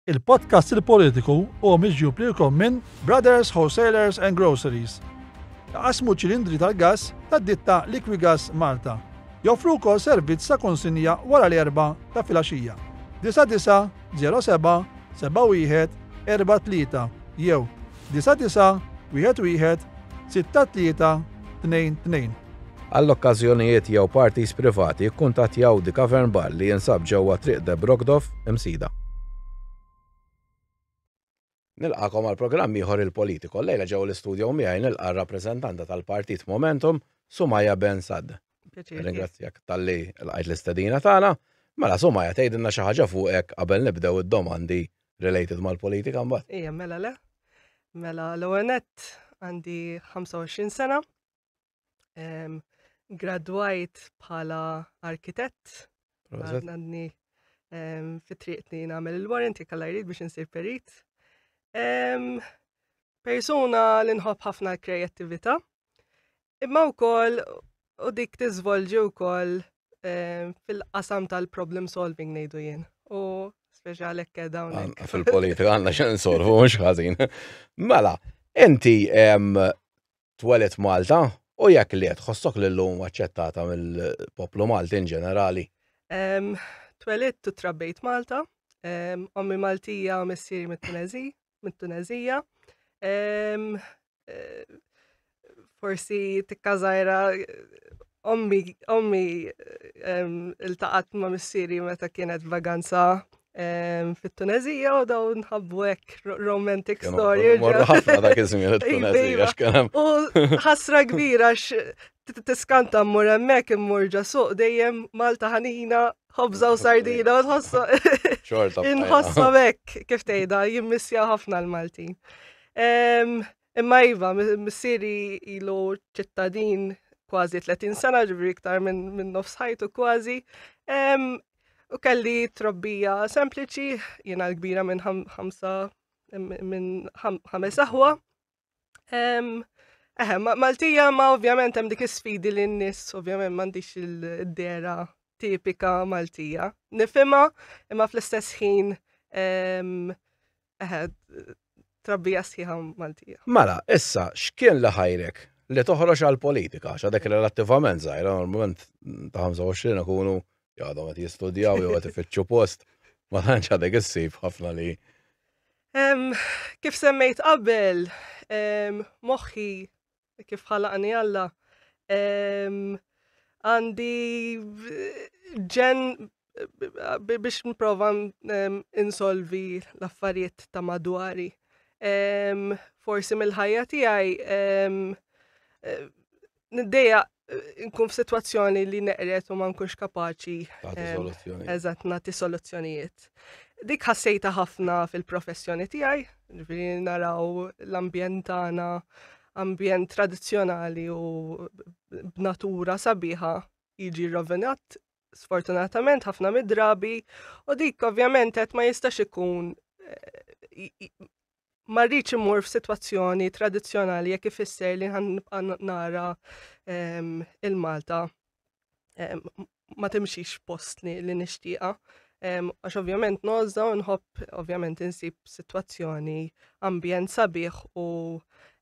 Il-podcast Il-Politiku huwa miġjub lilkom minn Brothers Wholesalers and Groceries. Iqassmu ċilindri tal-gass tad-ditta Liquigas Malta. Joffru wkoll servizz ta' konsinja wara l-erbgħa ta' filgħaxija. 99 07 71 43 jew Disa' disa', wieħed wieħed, sitta tlieta, tnejn tnejn. Għal okkażjonijiet jew parties privati kkuntattjaw The Cavern Bar li jinsab ġewwa Triq De Brogdov, Imsida. Nilqagħkom għal programm ieħor Il-Politico. Llejla ġewwa l-istudjo miegħi nilqa' r-rappreżentanta tal-Partit Momentum, Sumayya Ben Saad. Ringrazzjak tal-li l-għajt l-istedina tagħna. Mela somma ja tgħidilna xi ħaġa fuqek qabel nibdew id-domandi related mal-politika mbagħad. Ejja mela le. Mela l-ONET għandi 25 sena. Gradwajt bħala arkitett. Għadni fit-triqni nagħmel il-warranty kalla jrid biex insir perit. Persuna li nħobb ħafna kreattivita' Imma wkoll u dik tiżvolġi wkoll eh, fil-qasam tal-problem solving ngħidu jien. U speċjali hekk dawn. hekk. Fil-politika għandna x'in solvu mhux ħażin. Mela, inti em, twelet Malta u jekk li tħossok li l-lum aċċettata mill-poplu Malti in ġenerali. Em, Twelidt u trabbejt Malta, em, ommi Maltija u missieri mit-Tunezi, mit-Tunezija. Eh, forsi tikkażajra ommi ommi iltaqat ma' missieri meta kienet vaganza fit-Tunezija u daw nħabbu hekk romantic story. Morru ħafna dak iż-żmien it-Tunezija x'kien U ħasra kbira tiskanta mmur hemmhekk immur ġasuq dejjem Malta ħanina ħobża u sardina, tħossa. Xorta. Inħossa bekk, kif tgħidha, jimmissja ħafna l-Malti. Imma iva, missieri ilu ċittadin kważi 30 sena ġibri iktar minn min nofs ħajtu kważi. U kelli trobbija sempliċi, jena l-kbira minn ħamsa minn ħames aħwa. Eħe, Maltija ma ovvjament hemm dik is-sfidi li n-nies ovvjament m'għandix il-dera tipika Maltija. Nifhimha imma fl-istess ħin eħe trabbija sħiħa Maltija. Mela, issa x'kien li ħajrek li toħroġ għal politika għax dak relattivament żgħira normalment ta' 25 ikunu Għadhom qed jistudjaw jew qed ifittxu post, ma tantx għadek issib ħafna li. Kif semmejt qabel, moħħi kif ħalaqni Alla għandi ġen biex nprova insolvi l-affarijiet ta' madwari. Forsi mill-ħajja tiegħi Niddeja eh, nkun f'sitwazzjoni li neqret u ma nkunx kapaċi. Ehm, eżatt, nagħti soluzzjonijiet. Dik ħassejta ħafna fil-professjoni tiegħi, ġifieri naraw l-ambjent tagħna, ambjent tradizzjonali u b'natura sabiħa jiġi rovinat sfortunatament ħafna mid-drabi u dik ovvjament qed ma jistax ikun eh, ma rridx immur f'sitwazzjoni tradizzjonali jekk ifisser li ħan nibqa' nara ehm, il-Malta ehm, ma timxix post li, li nixtieqa. Ehm, għax ovvjament nozza u nħobb ovvjament insib sitwazzjoni ambjent sabiħ u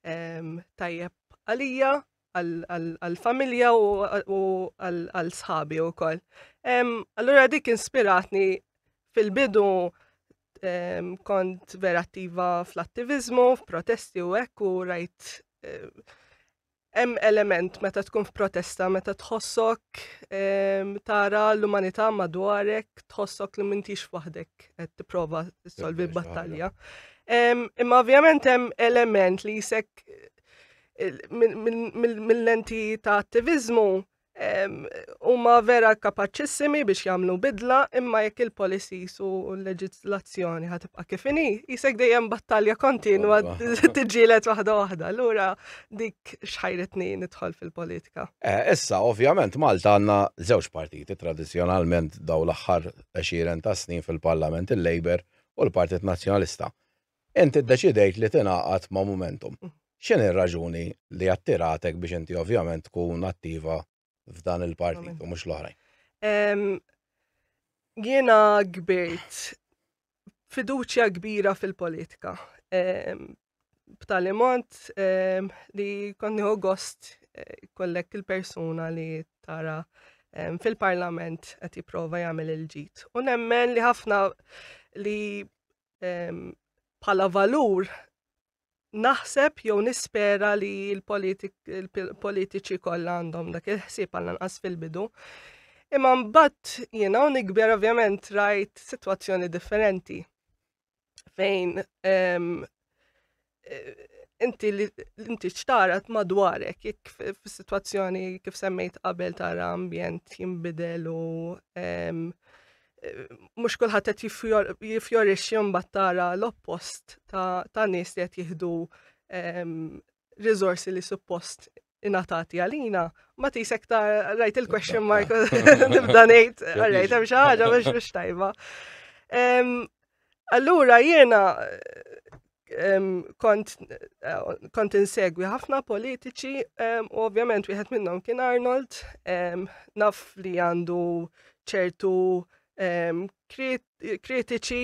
tajjeb għalija għal-familja u għal-sħabi u koll. Allura dik inspiratni fil-bidu kont vera attiva fl-attivizmu, f'protesti u hekk u rajt hemm element meta tkun f'protesta, meta tħossok tara l-umanità madwarek, tħossok li mintix waħdek qed tipprova solvi battalja. Imma ovvjament hemm element li jisek mill-lenti ta' attivizmu huma vera kapaċissimi biex jagħmlu bidla imma jekk il-policies u l-leġislazzjoni ħatibqa' kif inhi, jisek dejjem battalja kontinwa tiġġielet waħda waħda. Lura dik xħajretni nidħol fil-politika. Eh, issa ovvjament Malta għandna żewġ partiti tradizzjonalment daw l-aħħar 20 ta' snin fil-Parlament il-Labor u l-Partit Nazzjonalista. Int iddeċidejt li tingħaqad ma' Momentum. X'inhi r-raġuni li attiratek biex inti ovvjament tkun attiva f'dan il-partit u mhux l-oħrajn? Jiena kbirt fiduċja kbira fil-politika. B'tali mod li kont nieħu gost kollek il-persuna li tara fil-parlament qed jipprova jagħmel il-ġid. U nemmen li ħafna li bħala valur naħseb jew nispera li l-politiċi kollha għandhom dak il-ħsieb għal anqas fil-bidu. Imma mbagħad jiena u nikber ovvjament rajt sitwazzjoni differenti fejn inti li inti ċtara madwarek, jekk fis-sitwazzjoni kif semmejt qabel tara ambjent jinbidel u mhux kulħadd qed jifjorixxi mbagħad tara l-oppost ta' nies li qed jieħdu riżorsi li suppost inatati għalina, ma tisek ta' rajt il-question mark nibda ngħid, rajt hemm xi ħaġa biex biex tajba. Allura jiena kont kont insegwi ħafna politiċi u ovvjament wieħed minnhom kien Arnold naf li għandu ċertu kritiċi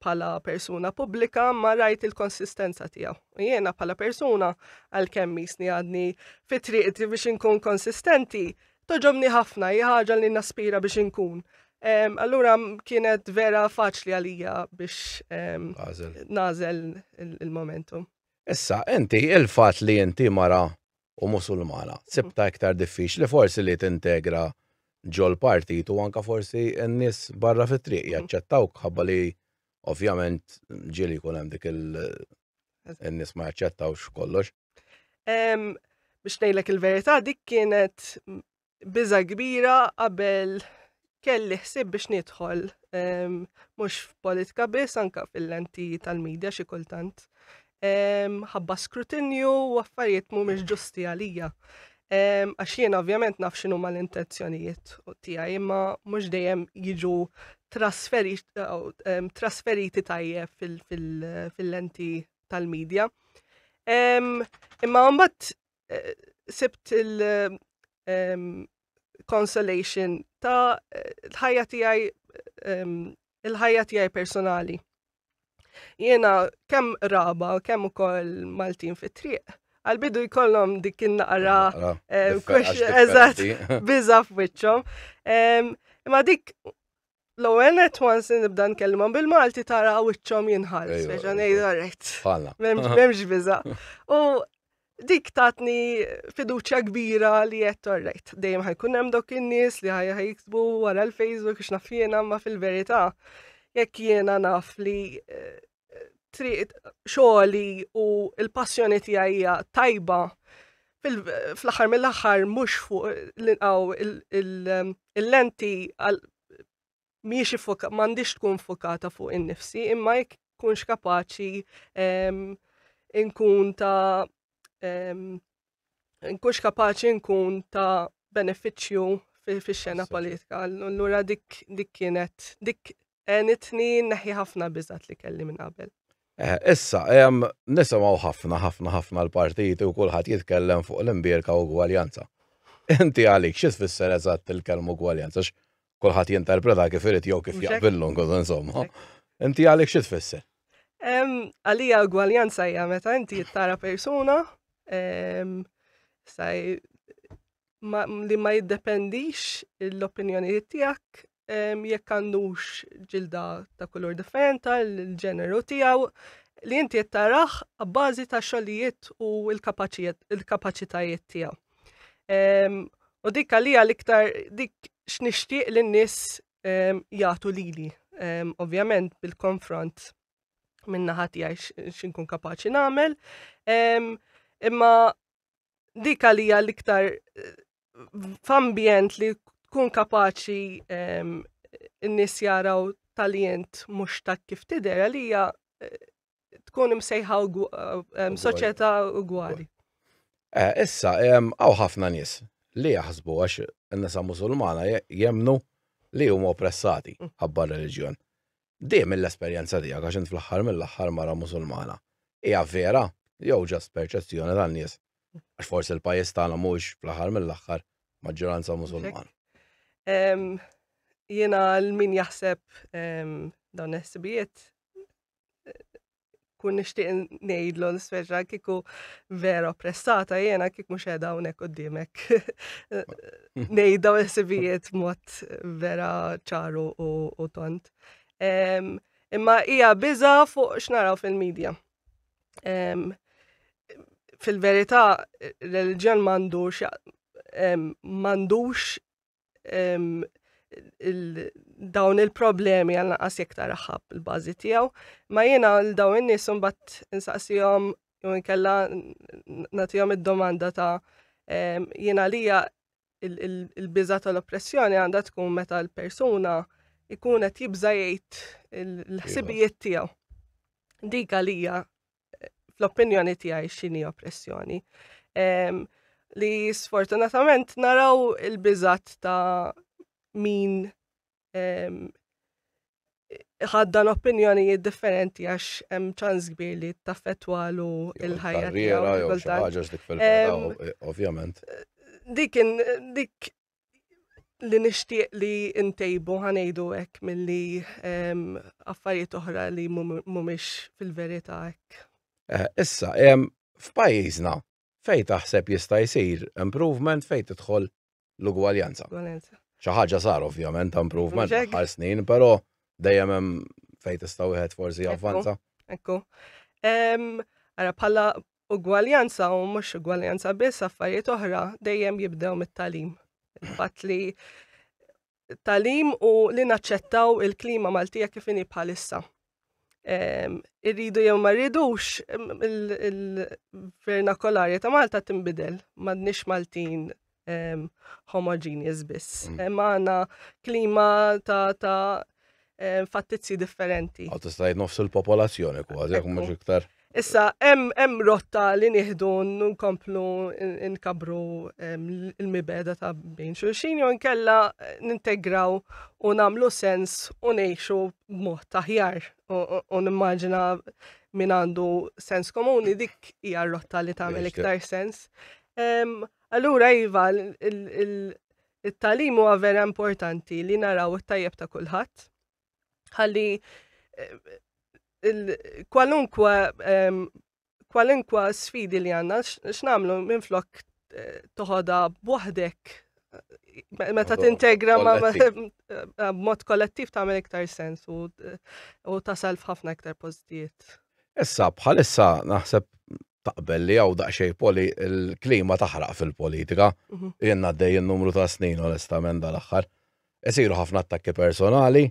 bħala persuna pubblika ma rajt il-konsistenza tiegħu. U jiena bħala persuna għalkemm jisni għadni fit triqti biex inkun konsistenti, toġobni ħafna hija ħaġa li naspira biex inkun. Allura kienet vera faċli għalija biex nażel il-momentum. Issa, inti il-fat li inti mara u Musulmana, sibtha iktar diffiċli forsi li tintegra ġol-partit u anke forsi n-nies barra fit-triq jaċċettawk minħabba li ovvjament ġieli jkun hemm dik il- in-nies ma jaċċettawx kollox. Biex ngħidlek il-verità dik kienet Biża' kbira qabel kelli ħsieb biex nidħol ehm, mhux f'politika biss anka fil-lenti tal-medja xi kultant. Ehm, ħabba skrutinju u affarijiet mhumiex ġusti għalija. Ehm, għax jien ovvjament naf xinu ma l-intenzjonijiet tiegħi imma mhux dejjem jiġu trasferiti tajjeb fil-lenti tal-medja. Imma mbagħad eh, sibt il- ehm, consolation ta' l-ħajja tiegħi ehm, il-ħajja tiegħi personali. Jiena kemm raba, kemm ukoll Maltin fit-triq, għal-bidu jkollhom dik in-naqra ehm, eżatt biża f'wiċċhom. Imma dik L-ewwel net once nibda nkellmhom bil-Malti tara wiċċhom jinħall, speċa ngħidu rajt. Bħalna. M'hemmx biża. U dik tatni fiduċja kbira li qed torrejt. Dejjem ħajkun hemm dok in-nies li ħajja jiksbu wara l-Facebook biex naf jiena ma fil-verità jekk jiena naf li eh, triq xogħli u l-passjoni tiegħi tajba fl-aħħar mill-aħħar mhux fuq l-inqaw il-lenti miex ifoka, m'għandix tkun fokata fuq in-nifsi, imma jekk kunx kapaċi nkun ta' nkunx kapaċi nkun ta' beneficju fix-xena politika. Allura dik kienet dik Għenitni neħi ħafna biżat li kelli minn qabel. Eh, issa, nisimaw ħafna, ħafna, ħafna l-partiti u kullħat jitkellem fuq l-imbierka u gwaljanza. Inti għalik, xis fisser eżatt il-kelmu gwaljanza, kullħat jinterpreta kif irid jew kif jaqbillu, insomma. Inti għalik xis fisser? Għalija gwaljanza hija meta inti jittara persuna, saj li ma jiddependix l-opinjonijiet tiegħek jekk għandux ġilda ta' kulur differenta, l-ġeneru tiegħu, li inti qed taraħ abbażi ta' xogħlijiet u l-kapaċitajiet tiegħu. U dik għalija l-iktar dik x'nixtieq li n-nies jagħtu lili. Ovvjament bil-konfront minna ħati għaj xinkun kapaċi nagħmel. Imma dik għalija l-iktar eh, f'ambjent li tkun kapaċi ehm, n-nis jaraw tal-jent mux ta' kif tider għalija eh, tkun imsejħa ehm, soċjetà ugwali. Eh, issa, ehm, għaw ħafna nis li jaħsbu għax n-nisa musulmana jemnu li huma oppressati mm. ħabba religjon. Di mill-esperjenza tiegħek għax int fl-aħħar mill-aħħar mara Musulmana. Hija vera jew just perċezzjoni tan-nies? Għax forsi l-pajjiż tagħna mhuwiex fl-aħħar mill-aħħar maġġoranza Musulmana. Jiena l-min jaħseb dawn il-ħsibijiet kun nixtieq ngħidlu nispeċa kieku vera oppressata jiena kik mhux qiegħda hawnhekk qudiemek. Ngħidha u sibijiet mod vera ċaru u tont. Imma hija biża fuq x'naraw fil-medja. Fil-verità, reliġjon m'għandux m'għandux dawn il-problemi għal naqas jek taraħab il-bazi tijaw, ma jena l-daw in-nis bat insaqsijom jew inkella natijom id-domanda ta' jena lija il-biża tal-oppressjoni għandha tkun meta l-persuna ikun qed jibża jgħid il-ħsibijiet tiegħu. Dik għalija fl-opinjoni tiegħi x'inhi oppressjoni. Ehm, li sfortunatament naraw il-biżat ta' min ehm, ħaddan opinjonijiet differenti għax hemm ċans kbir li taffettwalu il-ħajja tiegħu. Ehm, eh, ovvjament. Dik dik li nixtieq li ntejbu ħanejdu hekk milli ehm, affarijiet oħra li mhumiex fil-verità hekk. Eh, issa, ehm, f'pajjiżna fej taħseb jista' jsir improvement fej tidħol l-ugwaljanza. Xi ħaġa sar ovvjament improvement għal snin, però dejjem hemm fejn tista' wieħed forsi avvanza. Ekku. Ehm, ara bħala ugwaljanza u mhux ugwaljanza biss affarijiet oħra dejjem jibdew mit-talim. Il-fatt li talim u li naċċettaw il-klima Maltija kif inhi bħalissa. Irridu jew ma rridux il-vernakolarja ta' Malta tinbidel, m'għadniex Maltin um, homogeneous biss. Mm. Hemm għandna klima ta' ta' um, fattizzi differenti. Għaw tista' nofs il-popolazzjoni kważi, jekk mhux iktar. Issa, hemm rotta li nieħdu nkomplu nkabru il-mibeda ta' bejn xulxin jew nkella eh, nintegraw u nagħmlu sens u ngħixu b'mod taħjar u nimmaġina min għandu sens komuni dik hija rotta li tagħmel iktar sens. Allura iva, it-tagħlim huwa vera importanti li naraw it-tajjeb ta' kulħadd. Ħalli eh, kwalunkwe ehm, kwalunkwe sfidi li għandna x'namlu minflok eh, toħodha b'waħdek meta tintegra ma mod kollettiv tagħmel iktar sens u tasal f'ħafna iktar postijiet. Issa bħalissa naħseb taqbel li għaw daqxej poli il-klima taħraq fil-politika. Mhm. Jenna għaddej il-numru ta' snin, onestament, dal-axħar. Esiru ħafna attakki personali,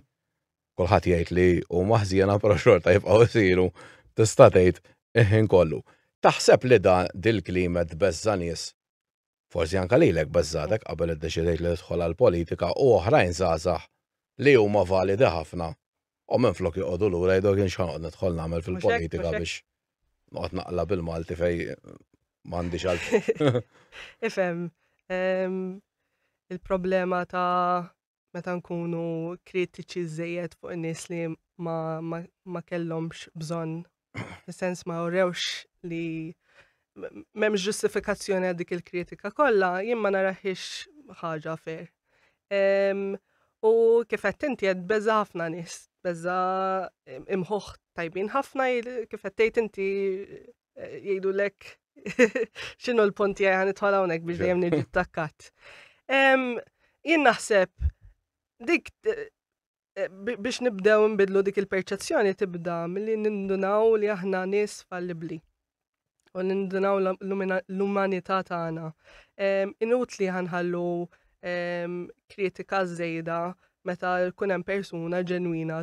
kullħat jgħid li u maħżjena pero xorta jibqaw esiru, tista' tgħid iħin kollu. Taħseb li da dil-klima tbeżża nies forsi anke lilek beżgħetek qabel iddeċidejt li tidħol għall-politika u oħrajn żgħażagħ li huma validi ħafna u minflok joqogħdu lura jgħidu jekk jien x'ħanoqgħod nidħol nagħmel fil-politika biex noqgħod naqla bil-Malti fejn m'għandix għal. Ifhem, ehm, il-problema ta' meta nkunu kritiċi żejjed fuq in-nies li ma, ma, ma kellhomx bżonn, fis-sens ma urewx li m'hemmx ġustifikazzjoni għal dik il-kritika kollha, jien ma naraħiex ħaġa fer. Um, u kif qed inti qed beża ħafna nies, beża imħuħ tajbin ħafna kif qed tgħid inti eh, jgħidu lek xinu l-ponti għan itħol hawnhekk biex dejjem niġi takkat. Jien naħseb dik eh, eh, biex nibdew nbidlu dik il-perċezzjoni tibda milli nindunaw li aħna nies fallibli u nindunaw l-umanità tagħna. Inutli ħanħallu kritika żejda meta jkun hemm persuna ġenwina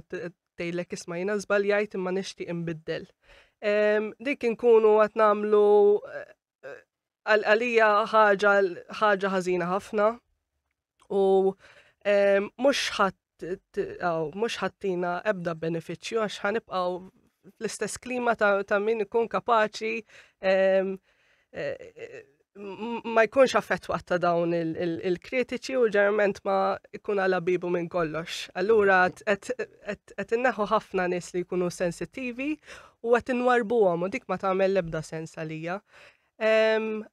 Tgħidlek isma' jiena żbaljajt imma nixtieq inbiddel. Dik inkunu qed nagħmlu eh, għalija ħaġa ħażina ħafna u mhux ħadd mux ħattina ebda beneficju għax ħanibqaw l-istess klima ta', ta min ikun kapaċi ma jkunx affettwat ta' dawn il-kritiċi u ġerment ma jkun għala bibu minn kollox. Allura qed inneħu ħafna nies li jkunu sensittivi u qed inwarbuhom u dik ma tagħmel l-ebda sens għalija.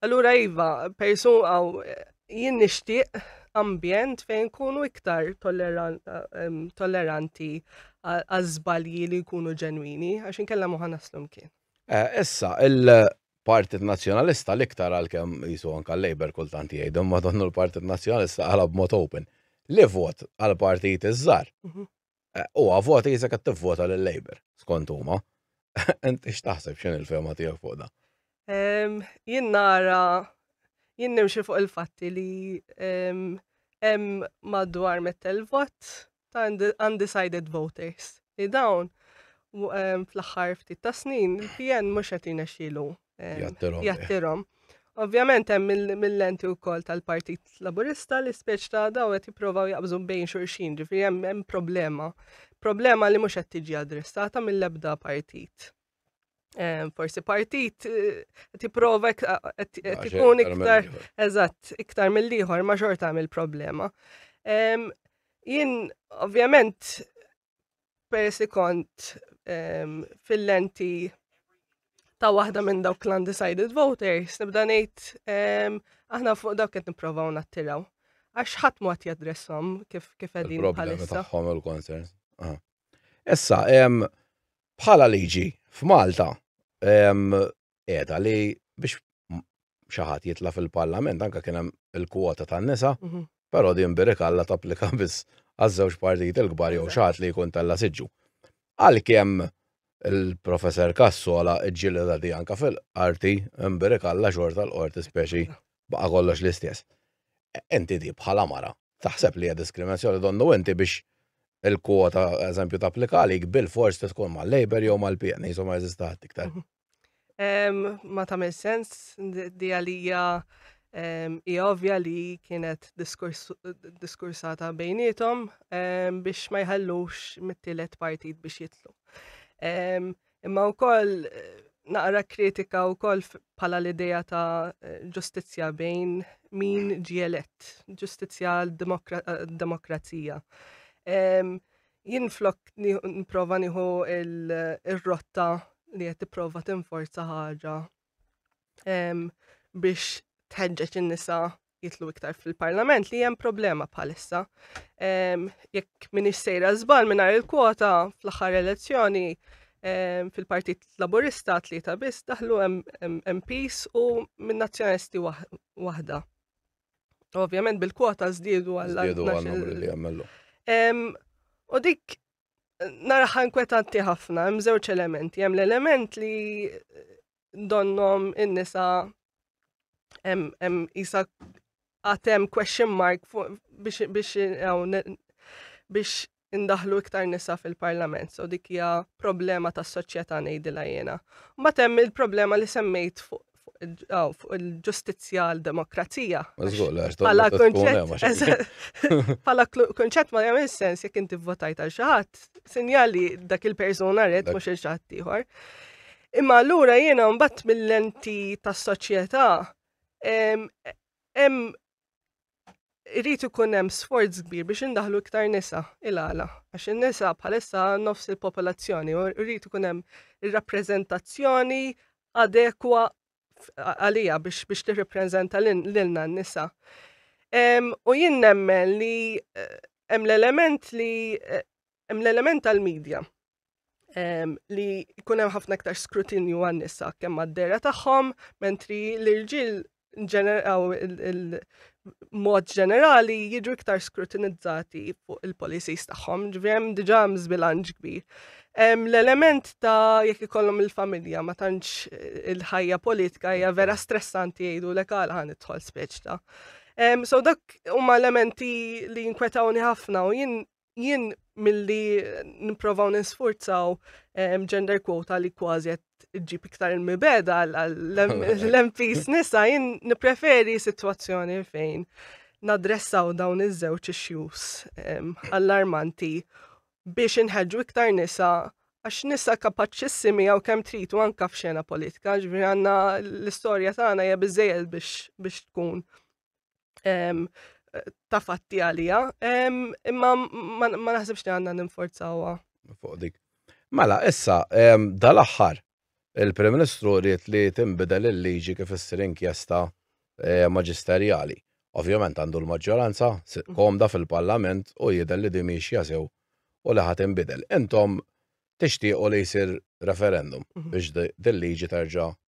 Allura iva, persun għaw jien nixtieq ambjent fejn kunu iktar tolleranti għaż-żbalji li jkunu ġenwini għax inkella moħa naslum kien. Issa, il-Partit Nazzjonalista l-iktar għalkemm qisu anke l-Labour kultant jgħidu, imma donnu l-Partit Nazzjonalista qalha b'mod open, li vot għal partiti ż-żgħar huwa vot qisek qed tivvota lil Labour, skont huma. Int x'taħseb, x'inhi l-fehma tiegħek fuq dan? Jien nara, jien nimxi fuq il-fatti li hemm madwar mitt-el vot ta' undecided voters li dawn fl-aħħar ftit ta' snin il-PN mhux qed jinexxielu jattirhom. Ovvjament hemm mill-lenti wkoll tal-Partit Laburista li speċ ta' daw qed jipprovaw jaqbżu bejn xulxin, ġifieri hemm problema. Problema li mhux qed tiġi addressata mill-ebda partit. forsi partit eh, tipprova tkun iktar eżatt iktar mill-ieħor ma xorta għamil problema. Jien ovvjament persi kont fil-lenti ta' waħda minn dawk l-undecided voters, nibda ngħid aħna fuq dawk qed nipprovaw nattiraw. Għax ħadd mod jadressom kif kif qegħdin bħalissa. Tagħhom il-concerns. Issa, Bħala liġi f'Malta qiegħda li biex xi ħadd jitla' fil-Parlament anke kien hemm il-kwota tan-nisa, mhm. però din birikalla tapplika biss għaż-żewġ partiti l-kbar jew xi ħadd li jkun tella siġġu. Għalkemm il-professor Kassola ġġieleda di anka fil-qarti imbirikalla xorta l-qorti speċi baqa' kollox l-istess. Inti di bħala mara taħseb li hija diskriminazzjoni donnu inti biex il-kwota eżempju tapplika għalik bilfors trid tkun mal-Labour jew mal-PN qishom ma jeżisti ħadd iktar. Ma tagħmel sens di għalija hija ovvja li kienet diskursata bejnietom biex ma jħallux mit-tielet partit biex jitlu. Imma wkoll naqra kritika wkoll bħala l-idea ta' ġustizzja bejn min ġie elett, ġustizzja demokrazija. Jien flok nipprova nieħu il-rotta li qed tipprova tinforza ħaġa biex tħeġġeġ in-nisa jitlu iktar fil-parlament li hemm problema bħalissa. Jekk minix sejra żbal mingħajr il-kwota fl-aħħar elezzjoni fil-Partit Laburista tlieta biss daħlu MPs u minn nazzjonalisti waħda. Ovvjament bil-kwota żdiedu għal. Żdiedu għal li għamellu. U dik naraħa inkwetanti ħafna, hemm żewġ elementi. Hemm l-element li donnom in-nisa hemm isa għatem question mark biex biex biex indaħlu iktar nisa fil-parlament, so dik hija problema tas soċjetà ngħidilha jiena. Mbagħad hemm il-problema li semmejt Oh, fuq il-ġustizzja għal demokrazija. Pala konċett ma jagħmel sens jekk inti votajt għal xi ħadd, sinjali dak il-persuna red mhux il xaħat ieħor. Imma allura jiena mbagħad mill-lenti tas-soċjetà hemm Irid ikun hemm sforz kbir biex indaħlu iktar nisa il-għala, għax in-nisa bħalissa nofs il-popolazzjoni u rrid ikun hemm ir-rappreżentazzjoni adekwa għalija biex biex tirrepreżenta lilna n-nisa. U jien nemmen li eh, hemm l-element li eh, hemm l-element tal-medja li jkun hemm ħafna iktar skrutinju għan nisa kemm għad-dera tagħhom, mentri l-irġiel ġeneraw il-mod ġenerali jiġu iktar skrutinizzati fuq il-policies tagħhom, ġvjem diġà żbilanġ kbir. L-element ta' jekk ikollhom il-familja ma tantx il-ħajja politika hija vera stressanti jgħidu lek għal ħan idħol speċta. So dak huma elementi li jinkwetawni ħafna u jien jien milli nipprovaw nisfurzaw gender quota li kważi qed ġib iktar il-mibeda l-MPs nisa jien nippreferi sitwazzjoni fejn nadressaw dawn iż-żewġ issues allarmanti biex inħeġġu iktar nisa għax nisa kapaċissimi għaw kem trit u anka f'xena politika, ġviri għanna l-istoria tagħna hija biżejjed biex tkun ta' fatti għalija, imma ma naħsibx li għandna ninforzawa. Fuq dik. Mela, issa, dal-aħħar, il-Prim Ministru rrit li timbidel il-liġi kif issir inkjesta eh, maġisterjali. Ovvjament għandu l-maġġoranza mhm. komda fil-Parlament u jidher li din mhix jasew u li ħadd inbidel. Intom tixtiequ li jsir referendum mhm. biex din liġi terġa'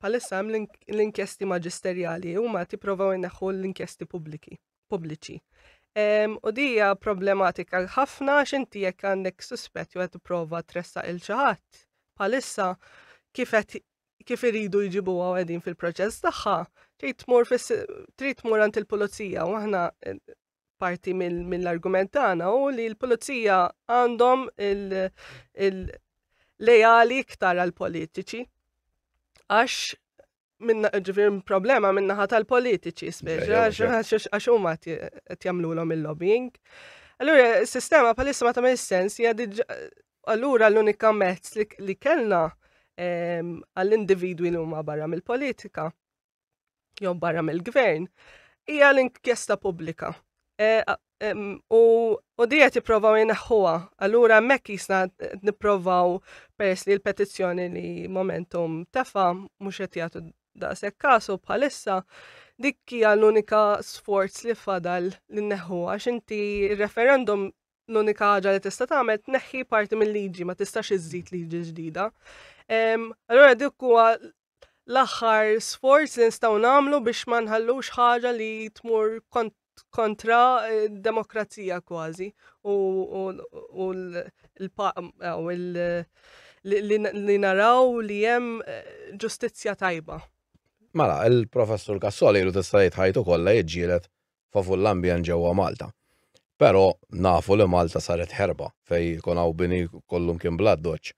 Palissa hemm l-inkjesti maġisterjali huma tipprovaw inneħħu l-inkjesti pubbliki pubbliċi. U dija problematika ħafna x'inti jekk għandek suspett jew qed tipprova tressaq il xi ħadd. Palissa kif qed kif iridu jġibu għedin fil-proċess tagħha, trid tmur trid tmur għand il-pulizija u aħna parti mill-argument tagħna u li l-pulizija għandhom il-lejali iktar għal-politiċi. Għax minna ġifir problema minna ħat tal-politiċi, speċi, għax huma qed jagħmlulhom il-lobbying. Allura, s-sistema palissa ma tagħmel sens hija allura l-unika mezz li kellna ehm, għall-individwi li huma barra mill-politika jew barra mill-gvern, hija l-inkjesta pubblika. E, u u dija tipprovaw jinaħħuha. Allura hemmhekk jisna nipprovaw peress li l-petizzjoni li momentum tefa mhux qed jagħtu daqshekk kasu bħalissa dik hija l-unika sforz li fadal li neħu għax inti referendum l-unika ħaġa li tista' tagħmel tneħħi parti mill-liġi, ma tistax iżżid liġi ġdida. Allora dik huwa l-aħħar sforz li nistgħu nagħmlu biex ma nħallux ħaġa li tmur kontra eh, demokrazija kważi u li naraw li hemm eh, ġustizzja tajba. Mela, il-professur Kassoli lu tista' jitħajtu kollha jiġġielet favur l-ambjent ġewwa Malta. Però nafu li Malta saret ħerba fejn ikun hawn bini kollu mkien bl-addoċċ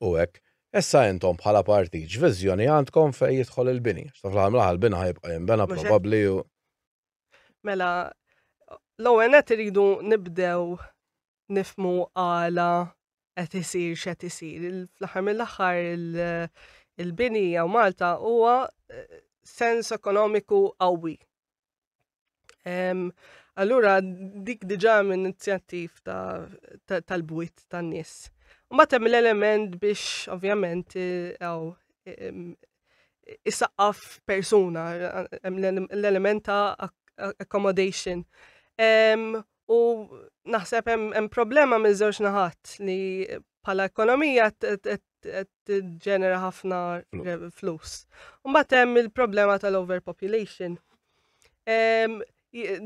u hekk. Issa intom bħala partit x'viżjoni għandkom fejn jidħol il-bini? Għax ta' fl-aħħar mill-aħħar il-bini ħa jibqa' jinbena probabbli u. Mela, l-ewwel nett iridu nibdew nifhmu għala qed isir x'qed isir. Fl-aħħar mill-aħħar il-bini jew Malta huwa eh, sens ekonomiku qawwi. Allura dik diġà minn inizjattiv tal-bwit tan-nies. Ma temm l-element biex ovvjament għaw isaqqaf persuna, l-element ta' accommodation. U naħseb hemm problema minn żewġ naħat li bħala ekonomija ġenera ħafna flus. Mbagħad hemm il-problema tal-overpopulation.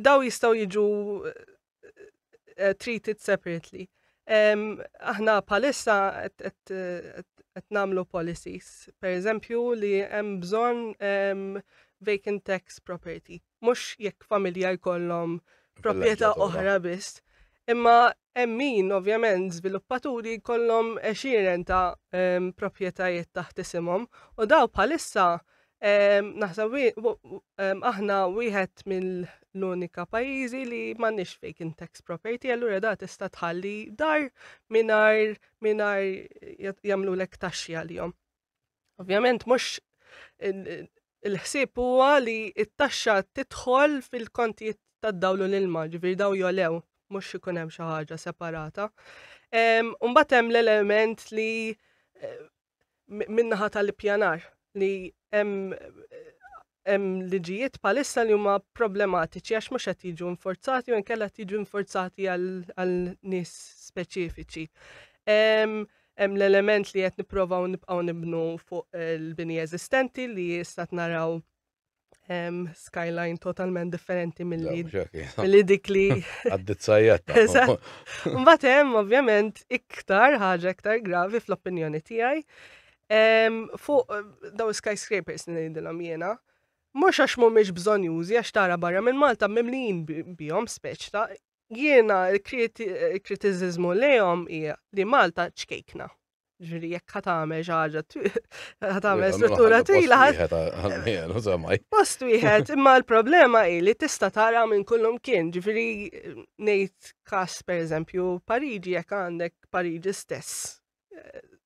Daw jistgħu jiġu eh, treated separately. Aħna bħalissa qed nagħmlu policies, per eżempju li hemm bżonn vacant tax property mhux jekk familja jkollhom proprjetà oħra biss. Imma hemm min ovvjament żviluppaturi jkollhom għexieren ta' ehm, proprjetajiet taħt isimhom u daw bħalissa ehm, naħseb ehm, aħna wieħed mill-unika pajjiżi li m'għandniex vacant tax property, allura da tista' tħalli dar mingħajr mingħajr jagħmlulek taxxi għalihom. Ovvjament mhux il-ħsieb huwa li t-taxxa tidħol fil-kontijiet tad-dawl u l-ilma, ġifieri daw jolew, mhux ikun hemm xi ħaġa separata. Mbagħad hemm l-element li eh, minnaħa tal-ippjanar li hemm eh, Hemm liġijiet bħalissa li huma problematiċi għax mhux qed jiġu inforzati u nkella qed jiġu inforzati għal nies speċifiċi. Hemm l-element li qed nipprovaw nibqgħu nibnu fuq il-bini eżistenti li jista' naraw skyline totalment differenti mill-li dik li. Għaddit sajjetta. Mbagħad hemm ovvjament iktar ħaġa iktar gravi fl-opinjoni tiegħi Fuq daw skyscrapers li ngħidilhom jiena, mhux għax mhumiex bżonjużi għax tara barra minn Malta mimlijin bihom speċ ta' jiena l-kritiżiżmu lejhom hija li Malta ċkejkna. Ġifieri jekk ħa tagħmel xi ħaġa ħa tagħmel struttura twila. Post wieħed, imma l-problema hi li tista' tara minn kullum kien, ġifieri ngħid każ pereżempju Pariġi jekk għandek Pariġi stess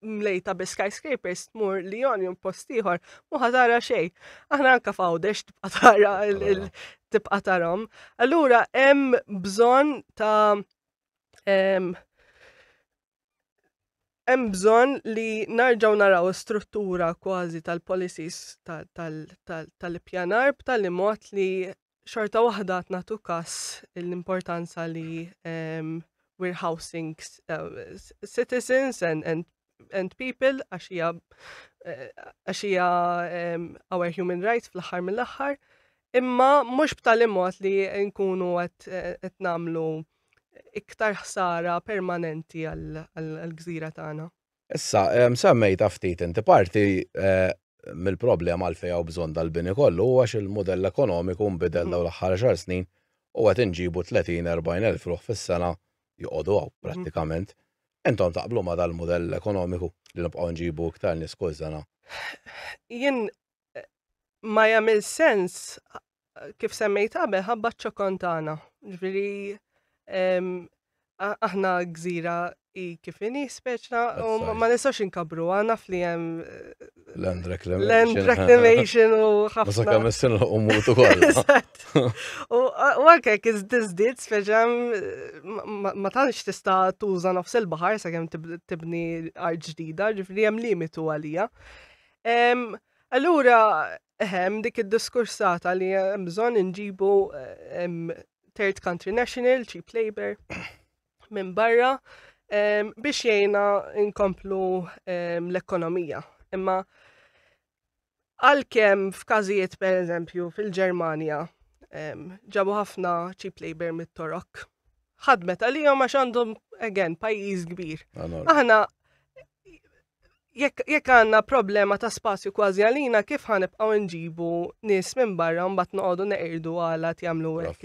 mlejta bi skyscrapers tmur li jon jom postiħor, muħa tara xej. Aħna anka fawdex tibqa tara tibqa tarom. Allura hemm bżon ta' hemm bżon li narġaw naraw struttura kważi tal-policies tal-ippjanar b'tali mod li xorta waħda qed nagħtu każ l-importanza li ehm, we're housing uh, citizens and, and and people għax hija eh, għax hija ehm, our human rights fl-aħħar mill-aħħar. Imma mhux b'tali mod li nkunu qed eh, nagħmlu iktar ħsara permanenti għall-gżira tagħna. Issa, semmejtha ftit inti, parti mill-problema għalfejn hawn bżonn dal-bini kollu hu għax il-mudell ekonomiku nbidel dawn l-aħħar għaxar snin u qed inġibu 30, 40 elf ruħ fis-sena joqogħdu hawn prattikament. Intom taqblu ma' dal-mudell ekonomiku li nibqgħu nġibu iktar nies kull sena? Jien ma jagħmel sens kif semmejt qabel ħabba ċokon tagħna. Ġifieri aħna gżira i kif inhi speċna u ma nistax inkabru għana fli hemm eh, land reclamation u ħafna. Sa kemm issin u mutu kollha. U anke kiz diżdiet speċam ma tantx tista' tuża nofs il-baħar sa kemm tibni art ġdida, ġifieri hemm limitu għalija. Allura, eħem, dik id-diskursata li hemm bżonn inġibu third country national, cheap labor, minn barra, biex jgħina inkomplu l-ekonomija. Imma għalkemm f'każijiet per eżempju fil-Ġermanja ġabu ħafna cheap labor mit-Torok. Ħadmet għalihom għax għandhom again pajjiż kbir. Aħna jekk għandna problema ta' spazju kważi għalina, kif ħan ibqgħu nġibu nies minn barra mbagħad noqogħdu neqirdu għala jagħmlu hekk.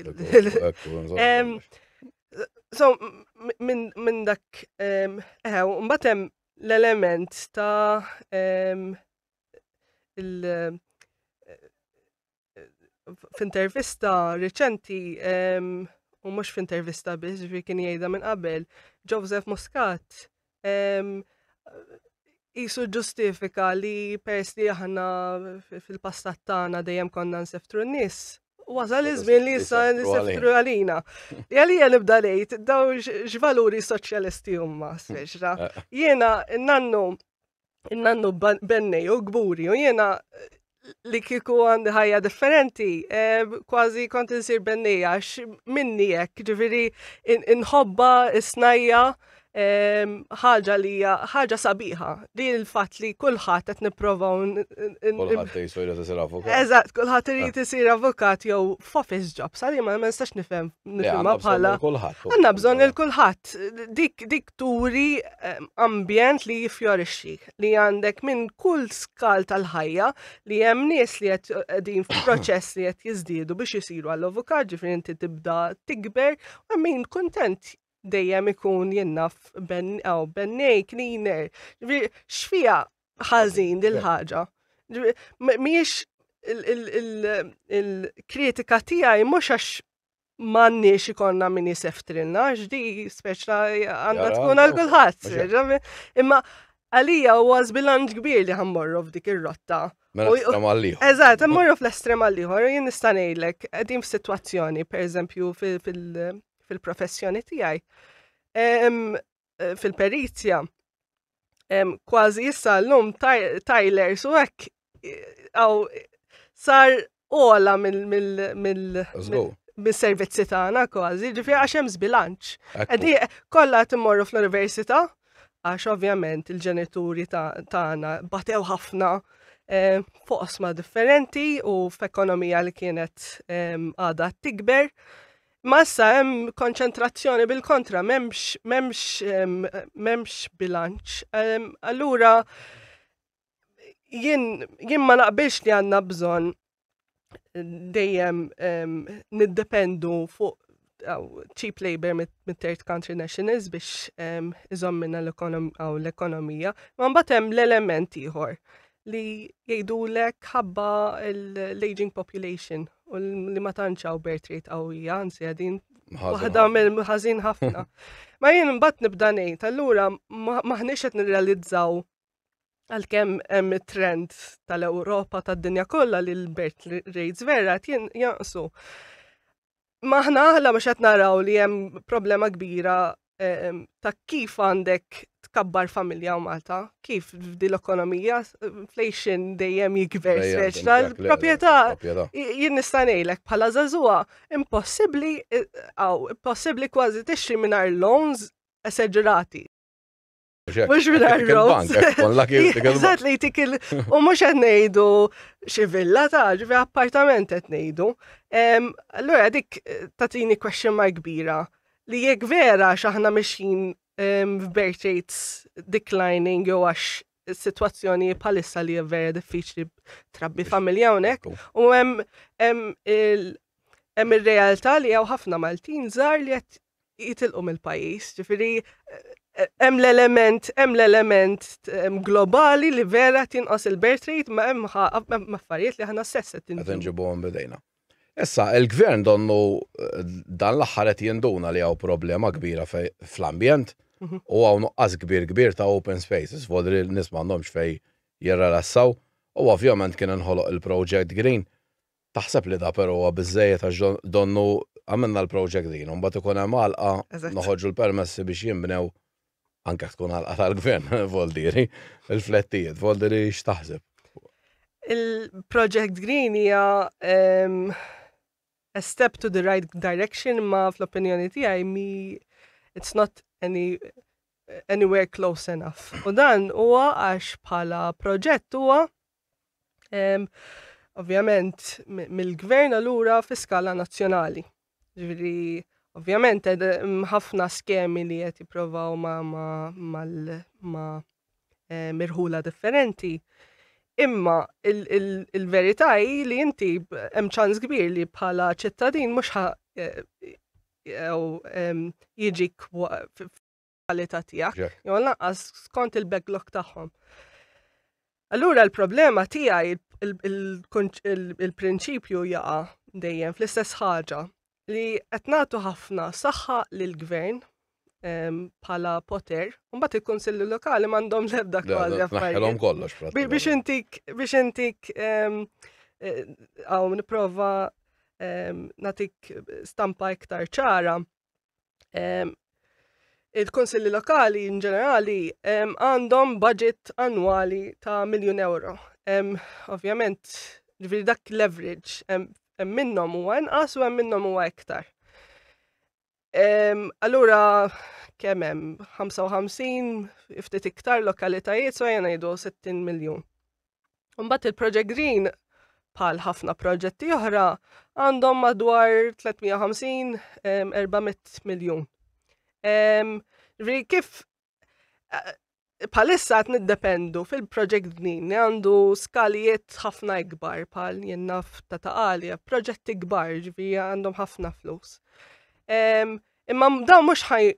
So, minn dak, eħew, mbagħad hemm l-element ta' il- f'intervista reċenti u mhux f'intervista biss ġifi kien jgħidha minn qabel, Joseph Muscat jisu ġustifika li pers li aħna fil-passat tagħna dejjem konna nseftru n-nies Wasal iż-żmien li issa nisifru għalina. Għalija nibda lejt, daw x'valuri soċjalisti huma, speċra. Eh, eh. Jiena nannu Nannu bennej u gburi u jena li kiku għandi ħajja differenti, eh, kważi kont insir bennija, minni jek, ġifiri, inħobba, isnajja, eh, ħaġa li ħaġa sabiħa, li l-fat li kullħat għet niprofa un. Kullħat jisir jisir avukat. Eżat, kullħat jrid jisir ah. avukat jow f'office job, sali ma nistax nifem, nifem bħala. Għanna bżon il-kullħat, dik, dik turi ehm, ambjent li jifjorixxi, li għandek minn kull skal tal-ħajja li hemm nies li qed qegħdin f'proċess li qed jiżdiedu biex isiru għall avukat ġifieri inti tibda tikber, u min kuntent dejjem ikun jinnaf ben aw bennej cleaner. X'fiha ħażin dil-ħaġa? Mhijiex il-kritika tiegħi mhux għax m'għandniex ikonna min jiseftilna, x'di speċla għandha tkun għal kulħadd. Imma għalija huwa żbilanċ kbir li ħammorru f'dik ir-rotta. Mela estrem għalliħor. Eżatt, ħammorru fl-estrem għalliħor, jien nista' ngħidlek, qegħdin f'sitwazzjoni, pereżempju fil-professjoni tiegħi. eh, fil-perizja kważi issa l-lum Tyler su hekk għaw eh, sar ola mill-servizzi tagħna kważi, ġifi għax hemm żbilanċ. Qegħdi kollha timmorru fl-università għax ovvjament il-ġenituri tagħna batew ħafna Eh, fuq osma differenti u f'ekonomija li kienet għada tikber. Ma issa hemm konċentrazzjoni bil-kontra, m'hemmx m'hemmx m'hemmx bilanċ. Allura jien jien ma naqbilx li għandna bżonn dejjem niddependu fuq cheap labor mit-third country nationals biex iżommina l-ekonomija, ma mbagħad hemm l-element ieħor li jgħidulek ħabba l-aging population u li ma tanċaw birth rate qawwija, anzi għadin waħda mill-ħażin ħafna. Ma jien mbagħad nibda ngħid, allura maħniex qed nirrealizzaw għalkemm hemm trend tal-Ewropa tad-dinja kollha li l-birth rates vera qed jinqsu. Maħna aħna mhux qed naraw li hemm problema kbira ehm, ta' kif għandek tkabbar familja u Malta, kif f'di l-ekonomija, inflation dejjem jikber speċ tal-propieta, jien nistanejlek bħala zazua, impossibli, għaw, eh, impossibli kważi tixri minar loans eseġrati. Mux mingħajr roads. Eżatt li jtik il- u mhux qed ngħidu xi villa ta' ġifi appartament qed ngħidu. Em, Allura dik eh, tatini question mark kbira li jekk vera x'aħna mixin em, f'birth rates declining jew għax is-sitwazzjoni bħalissa li hija vera diffiċli trabbi familja hawnhekk u hemm hemm il hemm ir-realtà li hawn ħafna Maltin żgħar li qed jitilqu mill-pajjiż, ġifieri hemm l-element hemm l-element globali li vera tinqos il-birth rate ma hemm affarijiet li aħna stess qed inġibu. Qed inġibuhom bidejna. Issa, il-gvern donnu dan l-aħħar qed jinduna li hawn problema kbira fl-ambjent u hawn nuqqas kbir kbir ta' open spaces, vodri n-nies m'għandhomx fejn jirrelassaw u ovvjament kien inħoloq il-project green Taħseb li da pero huwa biżżejjed għax donnu għamilna l-project din u mbagħad ikun hemm għalqa noħorġu l-permessi biex jinbnew anke jekk tkun għalqa tal-gvern Voldieri, il-flettijiet Voldieri x'taħseb? Il-project green hija a step to the right direction ma fl-opinjoni tiegħi mi it's not any anywhere close enough. U dan huwa għax bħala proġett huwa Ovvjament, mill-gvern allura fi skala nazzjonali. Ġviri, ovvjament, ħafna skemi li qed jipprovaw ma' mirħula differenti. Imma il-verità hi li inti hemm ċans kbir li bħala ċittadin mhux jiġi kwalità tiegħek, jew lanqas skont il-backlog tagħhom. Allura l-problema tiegħi il-prinċipju jaqa' dejjem fl-istess ħaġa li qed nagħtu ħafna saħħa lil gvern bħala poter, mbagħad il-Kunsilli Lokali m'għandhom l-ebda kważi affarijiet. kollox. Biex intik biex intik għaw eh, nipprova natik stampa iktar ċara. il-konsilli lokali in ġenerali għandhom budget annwali ta' miljun euro. Ovvjament, ġviri dak leverage, hemm minnhom huwa inqas u hemm minnhom huwa iktar. Allura, kemm hemm 55 ftit iktar lokalitajiet so jena jdu 60 miljun. Mbagħad il-Project Green bħal ħafna proġetti oħra għandhom madwar 350-400 miljun. Kif palissa għat niddependu fil-Project Green li għandu skalijiet ħafna ikbar pal jennaf ta' taqalja, proġetti ikbar ġvi għandhom ħafna flus. Imma daw mhux ħaj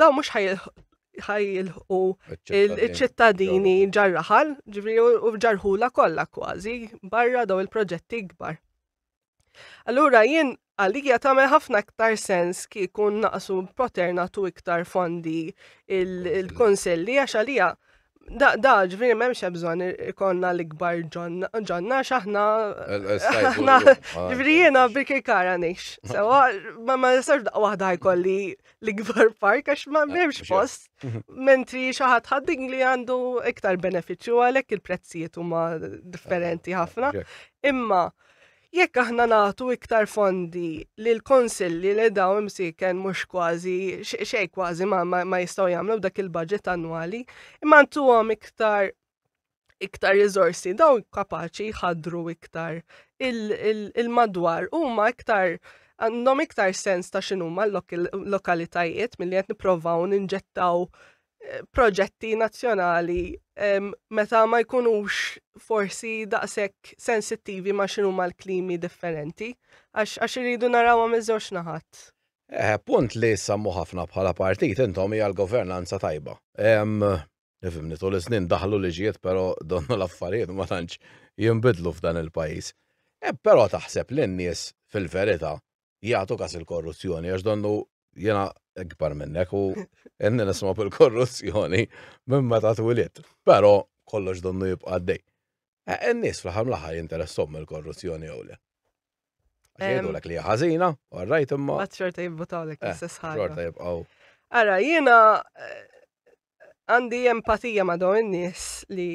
daw mhux ħajilħu il-ċittadini ġarraħal, ġifri u ġarħula kollha kważi barra daw il-proġetti kbar. Allura jien għalija tagħmel ħafna iktar sens kieku naqsu poternatu iktar fondi il-konsilli għax għalija Da, da, ġviri, memx bżon ikonna l-ikbar ġonna, xaħna. Ġviri, jena biki kara nix. Sewa, ma ma nistax daqqa wahda jkolli l-ikbar park, għax ma memx post. Mentri xaħat ħadding li għandu iktar beneficju għalek il-prezzijiet huma differenti ħafna. Imma, Jekk aħna nagħtu iktar fondi lill-Kunsilli li dawn imsieken mhux kważi xejn kważi ma, ma, ma jistgħu jagħmlu dak il-budget annwali, imma ntuhom iktar iktar riżorsi dawn kapaċi jħaddru iktar il-madwar il, il huma iktar għandhom iktar sens ta' x'inhuma l-lokalitajiet milli qed nipprovaw ninġettaw proġetti nazzjonali meta ma jkunux forsi daqshekk sensittivi ma xinu ma l-klimi differenti għax iridu naraw għam iż-żewġ naħat. Eh, punt li sammu ħafna bħala partit intom hija l-governanza tajba. Nifimni tul iż-żnien daħlu liġijiet però donnu l-affarijiet ma tantx jinbidlu f'dan il-pajjiż. Eh, però taħseb li n-nies fil-verità Jagħtu kas il-korruzzjoni għax donnu jena ikbar minnek u jenni nisma bil-korruzzjoni minn meta twilit. Pero kollox donnu jibqa' għaddej. E, n-nies fl-ħam laħar jinteressom mill-korruzzjoni jew le. Għedu l li ħazina, għarrajt imma. Għadxorta jibbutaw l-ek eh, l-istess ħagġa. Għadxorta jibqaw. Għara, jena eh, għandi empatija ma dawn in-nies li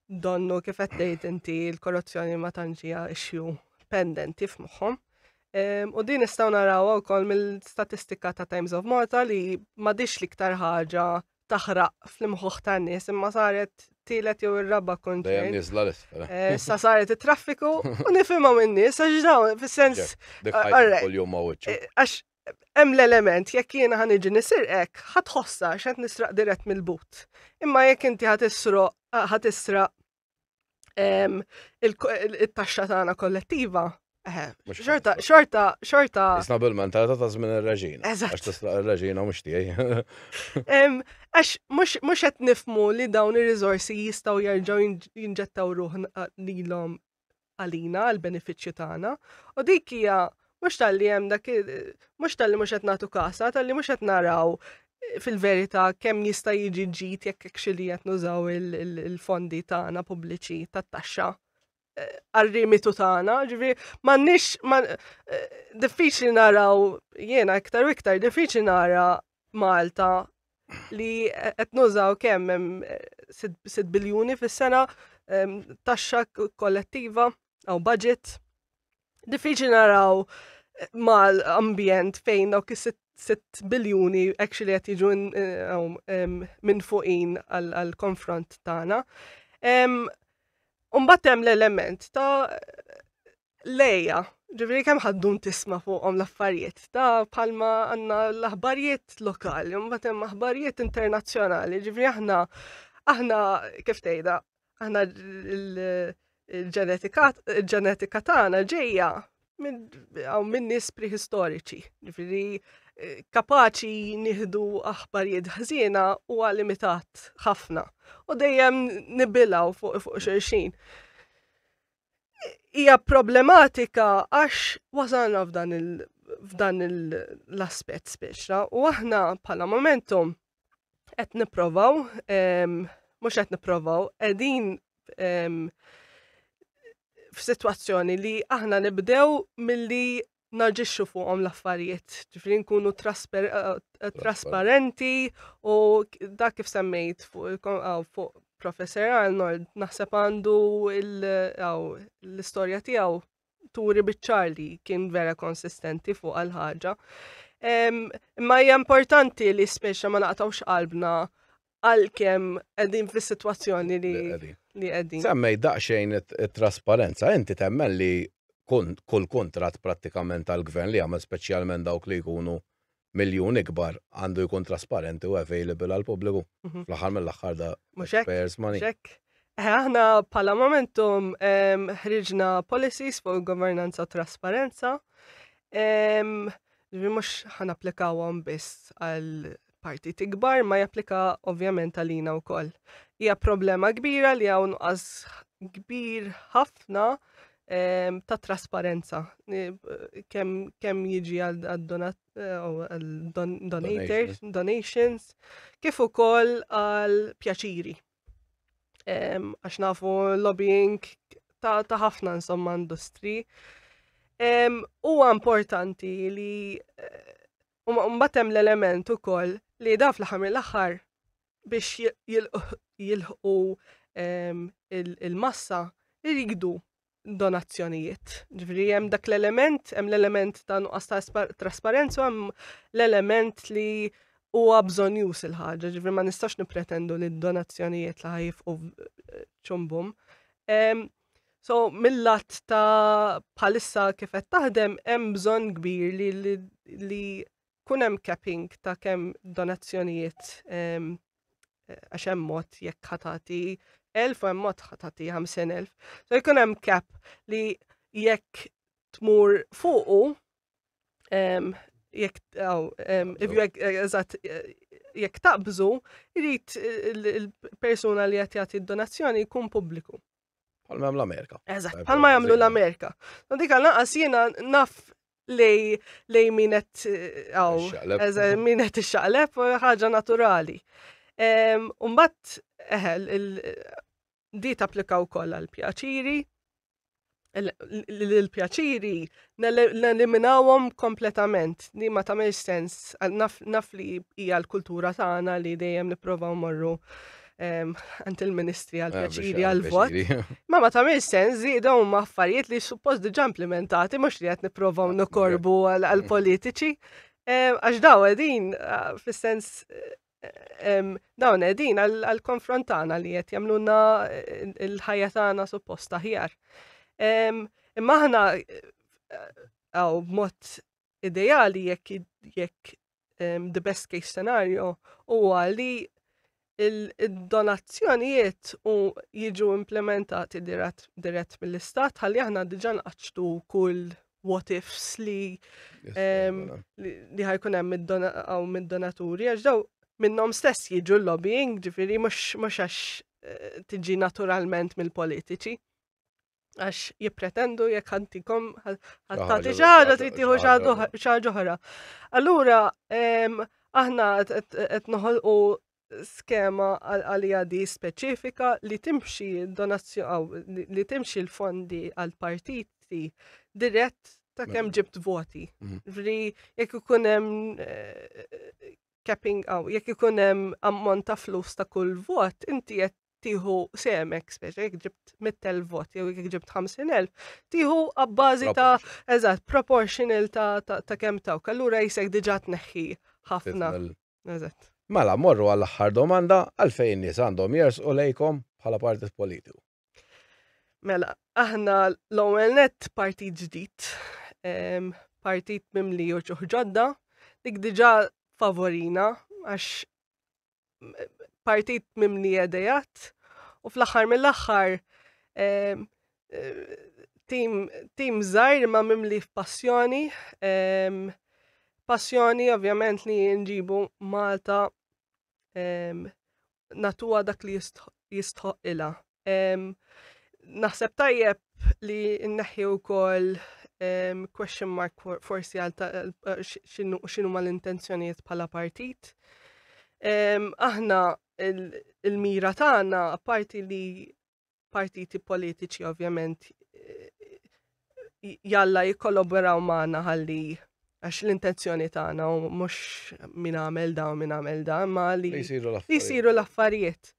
donnu kif qed tgħid inti l-korruzzjoni ma tantx hija issue pendenti f'moħħhom. U din nistgħu naraw ukoll mill-statistika ta' Times of Malta li m'għadix l-iktar ħaġa taħraq fl-imħuħ ta' nies imma saret tielet jew ir-raba konċern. Eh, sa saret it-traffiku u nifhimha minn nies għax dawn fis-sens. Eh, għax hemm l-element jekk jiena ħan iġi nisirqek ħad ħossa x'qed nisraq dirett mill-but. Imma jekk inti ħad isroq ħad israq it-taxxa tagħna kollettiva. Eh, xorta, xorta, xorta. Isna bil-mentalità ta' żmien ir-reġina. Eżatt. Għax tislaq ir-reġina mhux tiegħi. Għax mhux qed nifmu li dawn ir-riżorsi jistgħu jerġgħu jinġettaw ruħ lilhom għalina, għall-benefiċċju tagħna, u dik hija mhux talli hemm dak mhux talli mhux qed nagħtu kasa, talli mhux qed naraw fil-verità kemm jista' jiġi ġid jekk hekk xi li qed nużaw il-fondi tagħna pubbliċi tat-taxxa eh, għal-rimitu tagħna, ġifieri m'għandniex eh, diffiċli naraw jiena iktar u iktar diffiċli nara Malta li qed nużaw kemm hemm 6 eh, biljuni fis-sena ehm, taxxa kollettiva għaw budget. Diffiċli naraw eh, mal-ambjent fejn dawk is 6 biljuni actually qed jiġu eh, ehm, minn fuqin għall-konfront tagħna. Ehm, Umbat hemm l-element ta' Lejja, ġifieri kemm ħaddun tisma' fuqhom l-affarijiet ta' palma għandna l-aħbarijiet lokali, mbagħad hemm aħbarijiet internazzjonali, ġifieri aħna aħna kif tgħidha, aħna il-ġenetika tagħna ġejja minn nies prehistoriċi, ġifieri eh, kapaċi nieħdu aħbarijiet ħżiena u limitat ħafna u dejjem nibilaw fuq fuq xulxin. hija problematika għax wasalna f'dan il f'dan l-aspett speċra u aħna bħala momentum qed nipprovaw mhux qed nipprovaw qegħdin f'sitwazzjoni li aħna nibdew milli naġixxu fuqhom l-affarijiet, ġifri nkunu trasparenti u dak kif semmejt fuq Professor Arnold naħseb għandu l-istorja tiegħu turi biċċar li kien vera konsistenti fuq għal-ħaġa. Imma hija importanti li speċa ma naqtawx qalbna għalkemm qegħdin fis-sitwazzjoni li li qegħdin. Semmej daqsxejn it-trasparenza, inti temmen li kull kuntratt prattikament tal-gvern li għamel speċjalment dawk li jkunu miljun ikbar għandu jkun trasparenti u available għal pubbliku mhm. fl-aħħar mill-aħħar da payers money. Eh, aħna pala momentum ħriġna policies fuq governanza u trasparenza. Ġvi mux ħan applikawhom biss għal partit ikbar ma japplika ovvjament għalina wkoll. Hija problema kbira li hawn nuqqas kbir ħafna ehm, ta' trasparenza kemm jiġi għal eh, donators, donations, kif ukoll għal pjaċiri. Ehm, għax nafu lobbying ta' ħafna insomma industri. Ehm, huwa importanti li eh, U mbagħad hemm l-element ukoll li da fl-aħħar mill-aħħar biex jilħqu ehm, il-massa jridu donazzjonijiet. Ġifieri hemm dak l-element, hemm l-element ta' nuqqas ta' trasparenza, hemm l-element li huwa bżonjus il-ħaġa, ġifieri ma nistax nippretendu li d-donazzjonijiet li ħajfqu ċumbum. Ehm, So, mill-lat ta' bħalissa kif qed taħdem hemm bżonn kbir li li, li kun hemm capping ta' kemm donazzjonijiet ehm, għax hemm mod jekk ħatati elf u hemm mod ħatati 5000. So jkun hemm cap li jekk tmur fuqu jekk jekk taqbżu, jrid il-persuna li qed jagħti d-donazzjoni jkun pubbliku. Palma jagħmlu l-Amerika. Eżatt, palma jagħmlu l-Amerika. Dik għal naqas jiena naf lej lej min qed għaw, min qed ixxaqleb ħaġa naturali. Umbat, eħel, Di tapplika wkoll għal pjaċiri. L-pjaċiri neliminawhom kompletament. Di ma tagħmel sens naf li hija l-kultura tagħna li dejjem nipprovaw morru ehm, għand il-ministri għal ah, pjaċiri għal vot. Ma ma tagħmel sens li dawn huma affarijiet li suppost diġà implementati mhux li qed nipprovaw ah, nokorbu għal politiċi. Ehm, għax daw din ah, fis-sens eh, dawn edin għal-konfront tagħna li qed jagħmluna eh, l-ħajja tagħna supposta ħjar. Imma aħna għaw eh, mod ideali jekk jekk the best case scenario huwa li il-donazzjonijiet u jiġu implementati dirett mill-istat ħalli aħna diġan nqaċtu kull what ifs li li ħajkun hemm mid-donaturi, għax daw minnhom stess jiġu l-lobbying, ġifieri mhux għax eh, tiġi naturalment mill-politiċi. Għax jippretendu jekk ħantikom ħattati ġara trid tieħu xaġa oħra. Allura aħna qed noħolqu skema għalija di speċifika li timxi li timxi l-fondi għal partiti dirett ta' kem mm. ġibt voti. Mm. Vri, jek ikunem eh, capping għaw, jek ikunem ammont ta' flus ta' kull vot, inti jett tiħu semek, speċa, jek ġibt mittel vot, jew jek ġibt 50.000, tiħu għabbażi ta' eżat, proportional ta' kem ta' kallura jisek diġat neħi ħafna. Eżatt. Mela, morru għall-aħħar domanda għalfejn in-nies għandhom jersqu lejkom bħala partit politiku. Mela, aħna l-ewwel net partit ġdid, partit mimli u ġodda, dik diġà favorina għax partit mimli edejat u fl-aħħar mill-aħħar tim, tim zaħir ma mimli passjoni, um, passjoni ovvjament li nġibu Malta um, natuwa dak li jistħoq ila. Um, naħseb tajjeb li nneħħi wkoll um, question mark forsi għal eh, xinu ma l-intenzjonijiet bħala partit. Um, aħna il-mira il tagħna apparti li partiti politiċi ovvjament jalla jikkollaboraw maħna ħalli għax l-intenzjoni tagħna u mhux min għamel da u min għamel da, ma li jisiru l-affarijiet.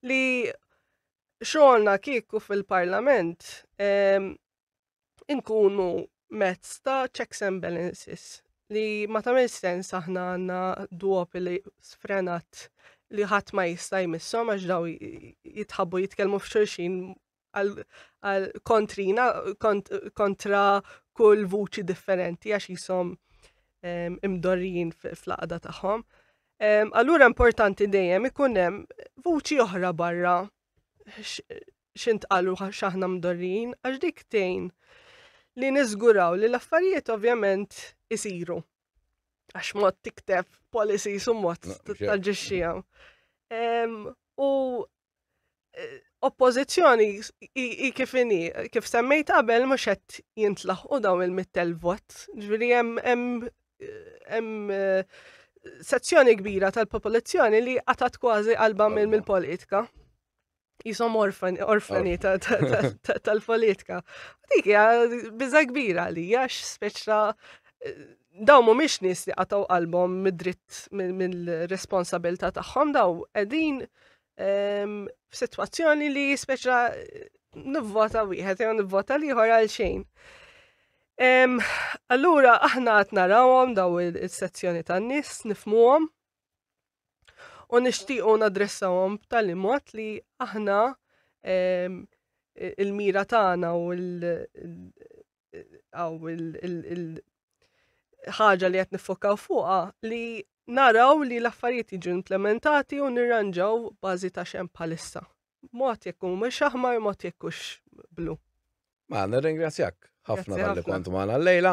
Li xogħolna kieku fil-Parlament inkunu mezz ta' checks and balances li ma tagħmel sens aħna għandna duopoli sfrenat li ħadd ma jista' jmissom għax daw jitħabbu jitkellmu f'xulxin għal kontrina kontra kull vuċi differenti għax jisom ehm, imdorrijin fl-qada tagħhom. Ehm, allura importanti dejjem ikun hemm vuċi oħra barra x'intqal u x'aħna mdorrijin għax dik tgħin li niżguraw li l-affarijiet ovvjament isiru. Għax mod tikteb policy su mod taġġixxija. U e, oppożizzjoni i kif inhi, kif semmejt qabel mhux qed jintlaħqu dawn il-mittel vot. Ġifieri hemm hemm e, sezzjoni kbira tal-popolazzjoni li qatat kważi qalba mill-politika. jisom orfan, orfani tal-politika. Dik hija biża kbira li għax speċra eh, daw mhumiex nies li qatgħu qalbhom mid-dritt mill-responsabilità tagħhom daw qegħdin ehm, f'sitwazzjoni li speċra eh, nivvota wieħed jew nivvota liħor għal xejn. Ehm, allura aħna qed narawhom daw is-sezzjoni tan-nies nifmuhom U nixtiequ nadressawhom b'tali mod li aħna ehm, il-mira tagħna u il-ħaġa li qed niffokaw fuqha li naraw li l-affarijiet jiġu implementati u nirranġaw bażi ta' xem bħalissa. Mod jekk mhux aħmar, mod jekk blu. Ma nirringrazzjak ħafna tal-li kont magħna l-lejla.